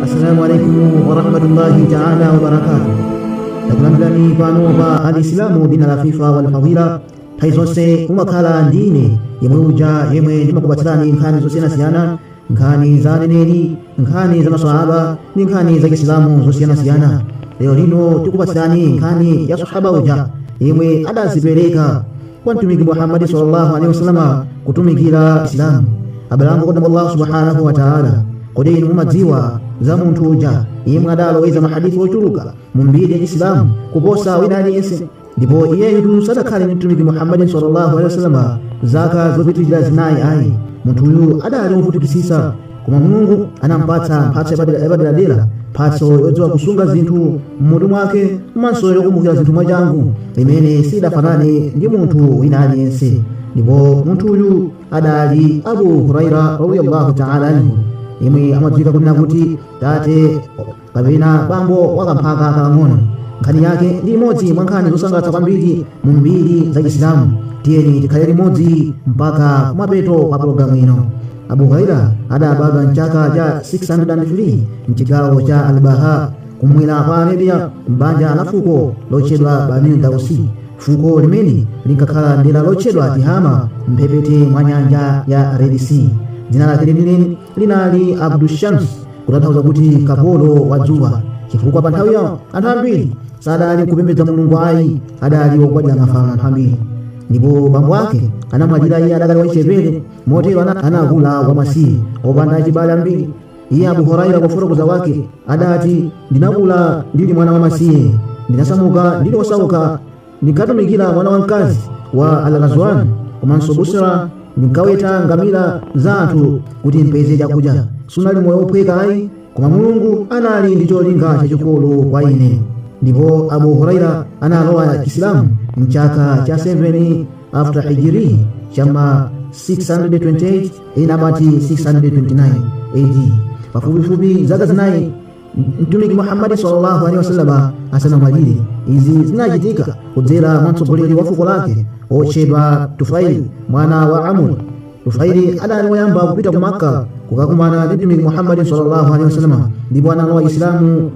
Assalamu alaikum warahmatullahi taala wabarakatuh. Takulandirani pano pa Alislamu dina la fifa wal fadila. Nthawi zonse umakhala ndi ine yemwe uja yemwe ndimakupatsirani nkhani zosiyanasiyana nkhani za aneneri nkhani za maswahaba ndi nkhani za chisilamu zosiyanasiyana lero lino tikupatsirani nkhani ya sahaba uja yemwe adazipereka kwa mtumiki muhammadi sallallahu alaihi wasallam kutumikira isilamu abale anga okondeka mwa allahu subhanahu wa taala kodi inu mumadziwa za munthu uja yemwe adaloweza mahadithi ochuluka mu mbiri ya chisilamu kuposa wina aliyense ndipo iyeyu sadakhale mtumiki muhammadi sallallahu alaihi wasallam zaka zopitirira zinayi ayi munthuyu adali wovutikisitsa koma mulungu anampatsa mphatso yapaderadera mphatso yodziwa kusunga zinthu m'mutu mwake komanso yokumbukira zinthu mwachangu imene sidafanane ndi munthu wina aliyense ndipo munthuyu adali abu huraira radiyallahu taala anhu yemwe amadziwika kunena kuti tate kapena bambo wa kamphaka kakang'ono nkhani yake ndi imodzi mwa nkhani zosangalatsa kwambiri mu mbiri za isilamu tiyeni tikhale limodzi mpaka kumapeto kwa pologalamu ino abu huraira adabadwa mchaka cha 603 mchigawo cha albaha kumwera kwa arabia m'banja la fuko lotchedwa bani dausi fuko limene linkakhala mdera lotchedwa tihama mphepete mwa nyanja ya red sea dzina lake lenileni linali abdushams kutanthauza kuti kapolo wa dzuwa chifukwa pa nthawiyo anthu ambiri sadali kupembedza mulungu ayi adali ogwadira mafano anthu ambiri ndipo bambo ake anamwalira iye adakali wachichepere motero ana- anakula wamasiye opanda achibale ambiri iye abu huraira kufotokoza wake adati ndinakula ndili mwana wamasiye ndinasamuka ndili osauka ndinkatumikira mwana wamkazi wa alghazwani komanso busra ndinkaweta ngamira za anthu kuti mpeze chakudya sunali moyo wophweka ayi koma mulungu anali ndi cholinga chachikulu kwa ine ndipo abu huraira analowa isilamu mchaka cha 7 after hijiri chama 628 ena amati 629 ad pafupifupi zaka zinayi mtumiki muhammadi sallallahu alaihi wasallam asanamwalire izi zinachitika kudzera mwa mtsogoleri wa fuko lake otchedwa tufaili mwana wa amuri tufaili adali woyamba kupita ku makka kukakumana ndi mtumiki muhammadi sallallahu alaihi wasallam ndipo analowa isilamu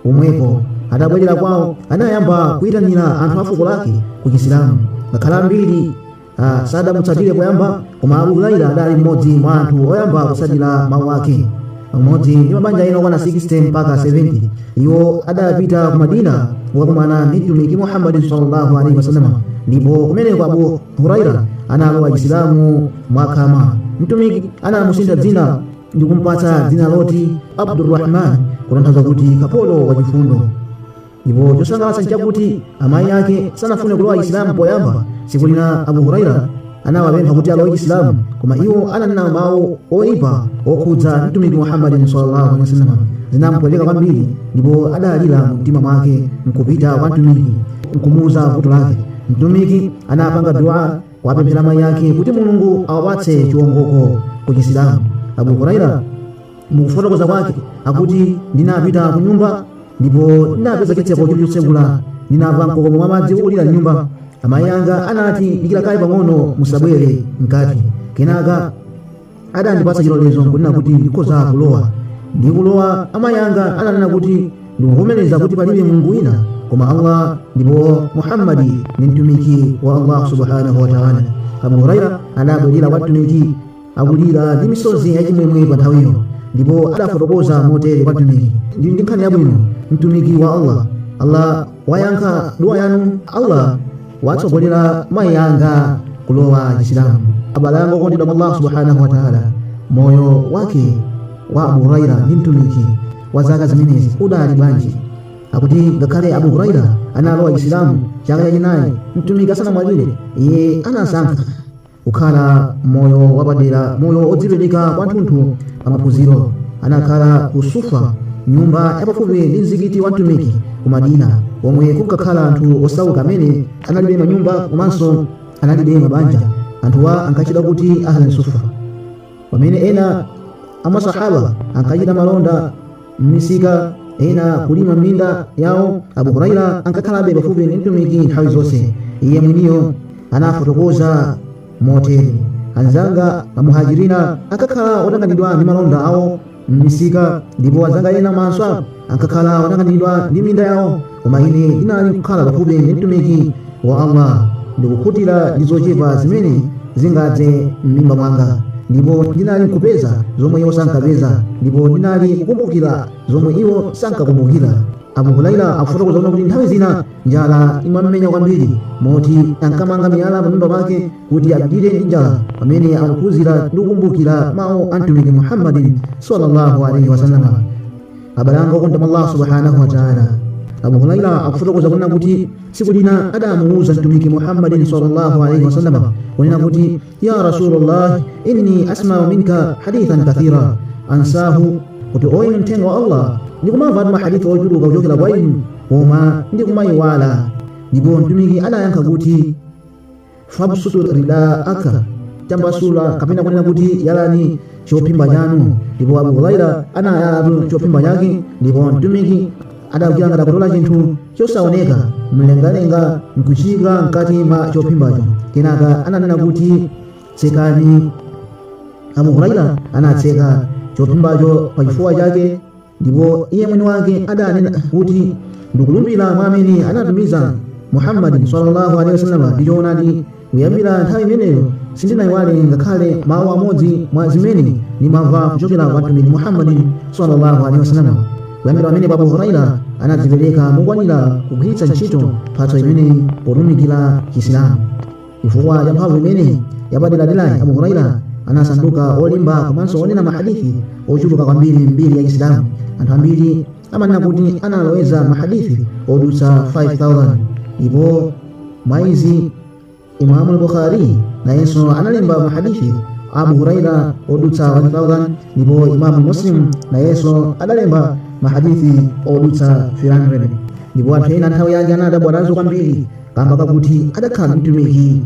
pomwepo atabwerera kwawo anayamba kuyitanira anthu a fuko lake ku isilamu ngakhale ambiri ambiri sadamutsatire poyamba koma abu huraira adali mmodzi mwa anthu oyamba kutsatira mawu ake pamodzi ndi mabanja ena okwana 60 mpaka 70 iwo adapita ku madina kukakumana ndi mtumiki muhammadin sallallahu alaihi wasallam ndipo kumeneko abu huraira analowa chisilamu mwakhama mtumiki anamusintha dzina ndi kumpatsa dzina loti abdurrahman kutanthauza kuti kapolo wachifundo ndipo chosangalatsa nchakuti amayi ake sanafune kulowa chisilamu poyamba tsiku lina abu huraira anawapempha kuti alowe chisilamu koma iwo ananena mawu oyipa okhudza mtumiki muhammadin sallallahu alaihi wasallam zinampweteka kwambiri ndipo adalira mu mtima mwake nkupita kwa mtumiki nkumuuza vuto lake mtumiki anapanga dua kuwapemphera amayi ake kuti mulungu awapatse chiwongoko ku chisilamu abu huraira mukufotokoza kwake akuti ndinapita ku nyumba ndipo ndinapeza chitseko chili chotsegula ndinamva mkokomo wa madzi ukulira m'nyumba amayi anga anati dikira kaye pang'ono musabwere mkati kenaka adandipatsa chilolezo nkunena kuti ndikhoza kulowa nditalowa amayi anga ananena kuti ndikuvomereza kuti palibe mulungu wina koma allah ndipo muhammadi ni mtumiki wa allah subhanahu wataala abu huraira adabwerera kwa mtumiki akulira ndi misozi yachimwemwe pa nthawiyo ndipo adafotokoza motere kwa mtumiki ndili ndi nkhani yabwino mtumiki wa allah allah wayankha duwa yanu allah watsogolera mayi anga kulowa chisilamu abale anga okondedwa mwa allah subhanahu wa taala moyo wake wa abu huraira ndi mtumiki wa zaka zimenezi udali bwanji akuti ngakhale abu huraira analowa chisilamu chaka chachinayi mtumiki asanamwalire iye anasankha kukhala moyo wapadera moyo odzipereka kwathunthu pa maphunziro anakhala ku sufa nyumba yapafupi ndi mzikiti wa mtumiki ku madina omwe kunkakhala anthu osauka amene analibe manyumba komanso analibe mabanja anthuwa ankatchedwa kuti ahli sufa pamene ena amasahaba ankachita malonda m'misika ena kulima minda yawo abu huraira ankakhalabe pafupi ndi mtumiki nthawi zonse iye mwiniyo anafotokoza motere anzanga amuhajirina ankakhala otanganidwa ndi malonda awo m'misika ndipo anzanga ena ma ansar ankakhala otanganidwa ndi minda yawo koma ine ndinali kukhala pafupi ndi mtumiki wa allah ndikukhutira ndi zochepa zimene zingadze m'mimba mwanga ndipo ndinali kupeza zomwe iwo sankapeza ndipo ndinali kukumbukira zomwe iwo sankakumbukira abu huraira akufotokoza kuti nthawi zina njala imamumenya kwambiri moti ankamanga miyala pamimba pake kuti apirire ndi njala pamene akuphunzira ndi kukumbukira mawu a mtumiki muhammadin sallallahu alaihi wasalama abale anga okondedwa mwa allah subhanahu wataala abu huraira akufotokoza kunena kuti tsiku lina adamuwuza mtumiki muhammadin sallallahu alaihi wasallam kunena kuti ya rasulullah inni asmau minka hadithan kathira ansahu kuti oyinu mthenga wa allah ndikumamvatu mahadithi ochuluka kuchokera kwa inu koma ndikumayiwala ndipo mtumiki adayankha kuti fabsutu ridaaka tambasula kapena kunena kuti yalani chophimba chanu ndipo abu huraira anayalatu chophimba chake ndipo mtumiki adachita ngati akutola chinthu chosaoneka mlengalenga nkuchiika mkati mwa chophimbacho kenaka ananena kuti tsekani abu huraira anatseka chophimbacho pa chifuwa chake ndipo iye mwini wake adanena kuti ndikulumbira mwa amene anatumiza muhammadi sallallahu alaihi wasallam ndi choonadi kuyambira nthawi imeneyo sindinayiwale ngakhale mawu amodzi mwa zimene ndimamva kuchokera kwa mtumiki muhammadi sallallahu alaihi wasallam kuyambira pamene abu huraira anadzipereka mokwanira kugwiritsa ntchito mphatso imeneyi potumikira chisilamu chifukwa cha mphamvu imeneyi yapaderaderayi abu huraira anasanduka olemba komanso onena mahadithi ochuluka kwambiri m'mbiri ya chisilamu anthu ambiri amanena kuti analoweza mahadithi odutsa 5000 ndipo mwaizi imamu al-bukhari nayenso analemba mahadithi a abu huraira odutsa 1000 ndipo imamu muslim nayenso adalemba mahadithi odutsa 300 ndipo anthu ena nthawi yake anadabwa nazo kwambiri kamba kakuti adakhala ndi mtumiki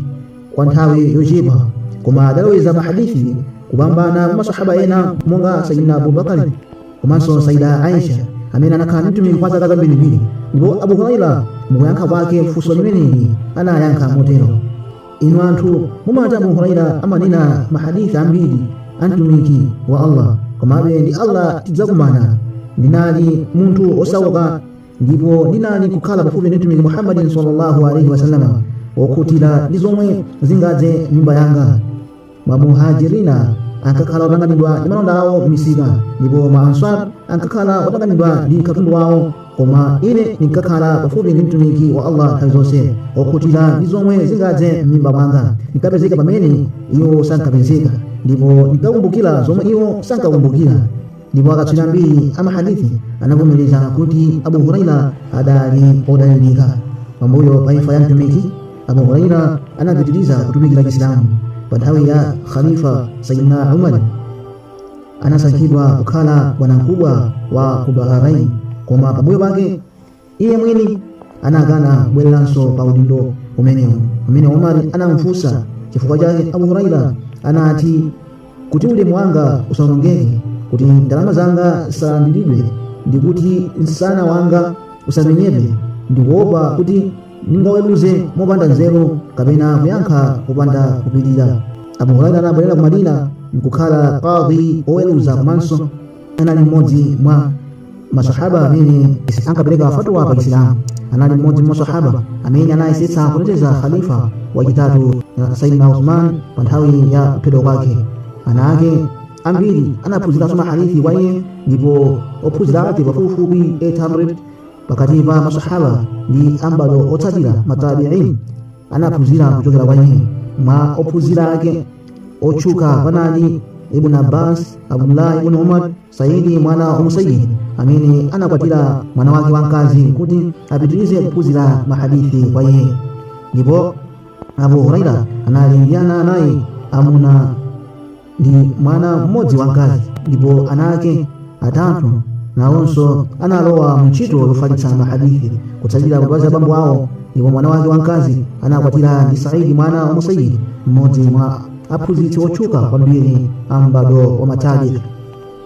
kwa nthawi yochepa koma adaloweza mahadithi kupambana masahaba ena monga sayidina abubakari komanso sayida aisha amene anakhala ndi mtumiki kwa zaka zambirimbiri ndipo abu huraira mukuyankha kwake funso limeneli anayankha motero inu anthu mumati abu huraira amanena mahadithi ambiri a mtumiki wa allah komabe ndi allah tidzakumana ndinali munthu osauka ndipo ndinali kukhala pafupi ndi mtumiki muhammadin sallallahu alaihi wasallam okhutira ndi zomwe zingadze mimba yanga mamuhajirina ankakhala otanganidwa ndi malonda awo m'misika ndipo ma answar ankakhala otanganidwa ndi katundu wawo koma ine ndinkakhala pafupi ndi mtumiki wa allah nthawi zonse okhutira ndi zomwe zingadze m'mimba mwanga ndinkapezeka pamene iwo sankapezeka ndipo ndinkakumbukira zomwe iwo sankakumbukira ndipo akatswiri ambiri a mahadithi anavomereza kuti abu huraira adali odalirika pambuyo pa imfa ya mtumiki abu huraira anapitiriza kutumikira chisilamu pa nthawi ya khalifa sayidina umar anasankhidwa kukhala bwanamkubwa wa ku bahrain koma pambuyo pake iye mwini anakana kubwereranso pa udindo umenewu pamene omari anamfunsa chifukwa chake abu huraira anati kuti ulemu wanga usaonongeke kuti ndalama zanga zisalandiridwe ndi kuti msana wanga usamenyedwe ndikuopa kuti ndingaweruze mopanda nzeru kapena kuyankha popanda kupirira abu huraira anabwerera ku madina nkukhala kadhi oweruza komanso anali mmodzi mwa masahaba amene ankapereka fatwa pa chisilamu anali mmodzi mwa masahaba amene anayesetsa kuteteza khalifa wachitatu saidina usman pa nthawi ya kuphedwa kwake ana ake ambiri anaphunziranso mahadithi kwa iye ndipo ophunzira ake pafupifupi 800 pakati pa masahaba ndi ambalo otsatira matabiin anaphunzira kuchokera kwa iye mwa ophunzira ake otchuka panali ibn abbas abdullah ibn umar saidi mwana wa musayyib amene anakwatira mwana wake wamkazi kuti apitirize kuphunzira mahadithi kwa iye ndipo abu huraira anali ndi ana anayi amuna ndi mwana mmodzi wamkazi ndipo ana ake atatu nawonso analowa mu ntchito yofalitsa mahadithi kutsatira phazi la bambo awo ndipo mwana wake wamkazi anakwatiwa ndi saidi mwana wa musayyib mmodzi mwa aphunzitsi otchuka kwambiri a m'bado wa matabii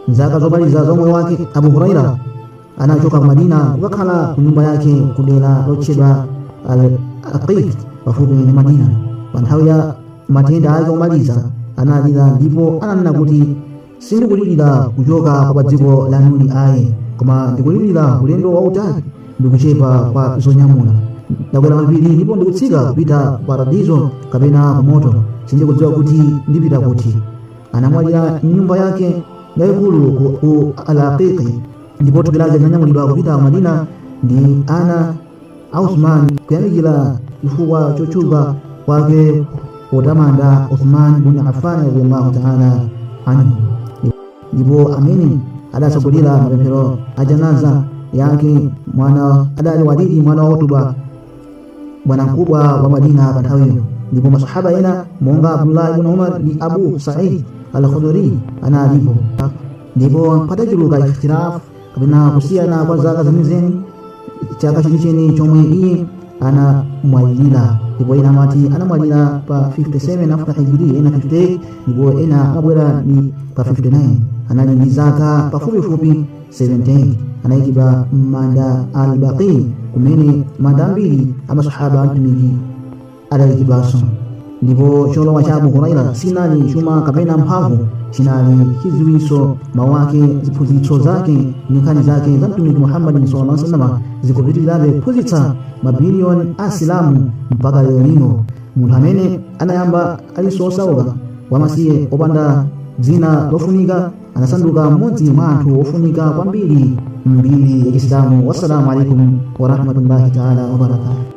mzaka zomaliza za moyo wake abu huraira anachoka ku madina kukakhala ku nyumba yake ku dera lotchedwa al aqiq pafupi ndi madina pa nthawi ya matenda ake omaliza analira ndipo ananena kuti sindikulirira kuchoka kwa pa dziko lanuli ayi koma ndikulirira ulendo wautali ndikuchepa kwa zonyamula ndakwera mapiri ndipo ndikutsika kupita paradizo kapena ku moto sindikudziwa kuti ndipita kuti anamwalira nyumba yake yayikulu ku alaqiki ndipo thupi lake linanyamulidwa kupita madina ndi ana a usman kuyamikira chifukwa chotchuka kwake potamanda usman bin affan radiyallahu taala anhu ndipo amene adatsogolera mapemphero a janaza yake adali walidi mwana wa utuba bwanamkubwa wa madina pa nthawiyo ndipo masahaba ena monga abdullah ibn umar ndi abu said al khuduri analipo ndipo patachuluka ikhtilafu kapena kusiyana kwa zaka zenizeni chaka chenicheni chomwe iye anamwalira ndipo ena amati anamwalira pa 57 after hijira ena 58 ndipo ena amabwera ni pa 59 anali ndi zaka pafupifupi 78 anayikidwa m'manda al baqi kumene manda ambiri amasahaba a mtumiki adayikidwanso ndipo cholowa cha abuhuraira sinali chuma kapena mphamvu chinali chidziwitso mawu ake ziphunzitso zake ndi nkhani zake za mtumiki muhammadi sallallahu alaihi wasallam zikupitirirabe kuphunzitsa mabiliyoni a asilamu mpaka lero lino munthu amene anayamba ali osauka wamasiye opanda dzina lofunika anasanduka mmodzi mwa anthu ofunika kwambiri mmbiri ya islamu wassalamu alaikum warahmatullahi taala wabarakatu